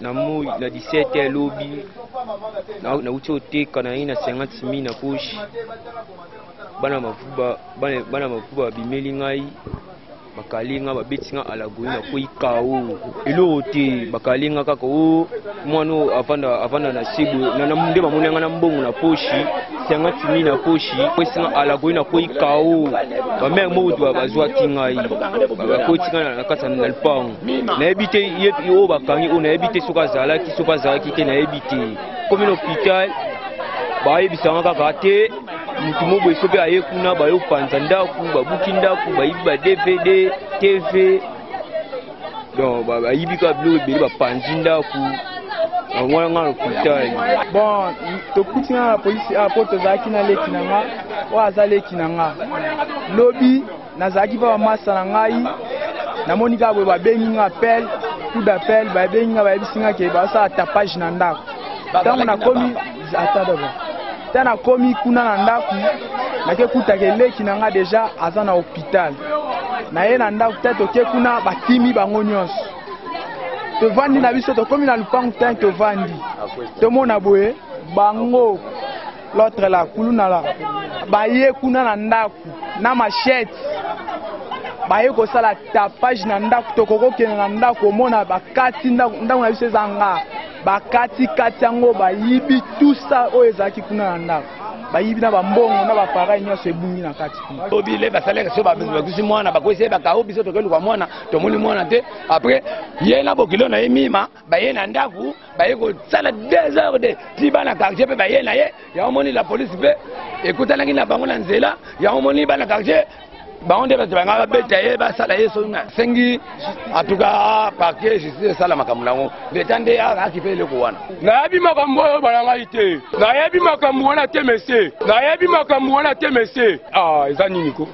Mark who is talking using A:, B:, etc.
A: na moi na 17 ya lobi nauti oteka na ye na 50 mille na poche bana mavuba bana mavuba babimeli ngai bakali nga babeti nga alagoi nakwei kao eloko te bakali nga kaka o oh, mwana oyo avanda avanda na sebo nde bamoni nga na mbongo na poshi senga timi na poshi kwesi nga alagoi nakwei kao bamere moko bazwaki ngai bakoti nga na kati na lupango nayebi te ye oyo bakangi oyo nayebi te soki azalaki soki azalaki te nayebi te komi na hôpital bayebisanga kaka te motu moboye soki aye kuna bayopanza ndako babuki ndako bayibi ba dvd tv donc bayibi kaka biloko ebele bapanzi ndako yango nga na hôpital bon
B: tokuti nga na polisi apo ah, tozalaki na leki na nga oyo aza leki na nga lobi nazalaki mpe bamasta na ngai namoni kaka boye babengi nga appel coup d'appel babengi nga bayebisi nga ke basala tapage na ndako ntango nakomi ata daba ntango nakomi kuna na ndako nakekutaka eleki na nga deja aza na hôpital naye na ndako te toke kuna bakimi bango nyonso tovandi na biso tokomi na lupangu te tovandi tomona boye bango L'autre la kuluna la baye kuna na ndaku na machette baye kosala tapage na ndaku tokokokende na ndaku omona bakati ndaku na biso eza nga bakati kati yango bayibi tusa oyo ezalaki kuna na ndaku bayibi na bambongo na bapareil nyonso ebungi na kati kuna tobile basalaka so
C: bakusi mwana bakwesi ye bakao biso tokeluka mwana tomoni mwana te après ye na bokilo na ye mima baye na ndako baye kosala desordre ti bana quartier mpe baye na ye yango moni la polise mpe ekutanaki na bango na nzela yango moni bana quartier bango nde bato banga babeta ye basala ye soki nasengi atuka parke justice esala makambo na yango leta nde akipe eloko wana nayebi makambo oyo bana ngai te nayebi makambo wana te mesie nayebi makambo wana te mesie ah, eza nini ko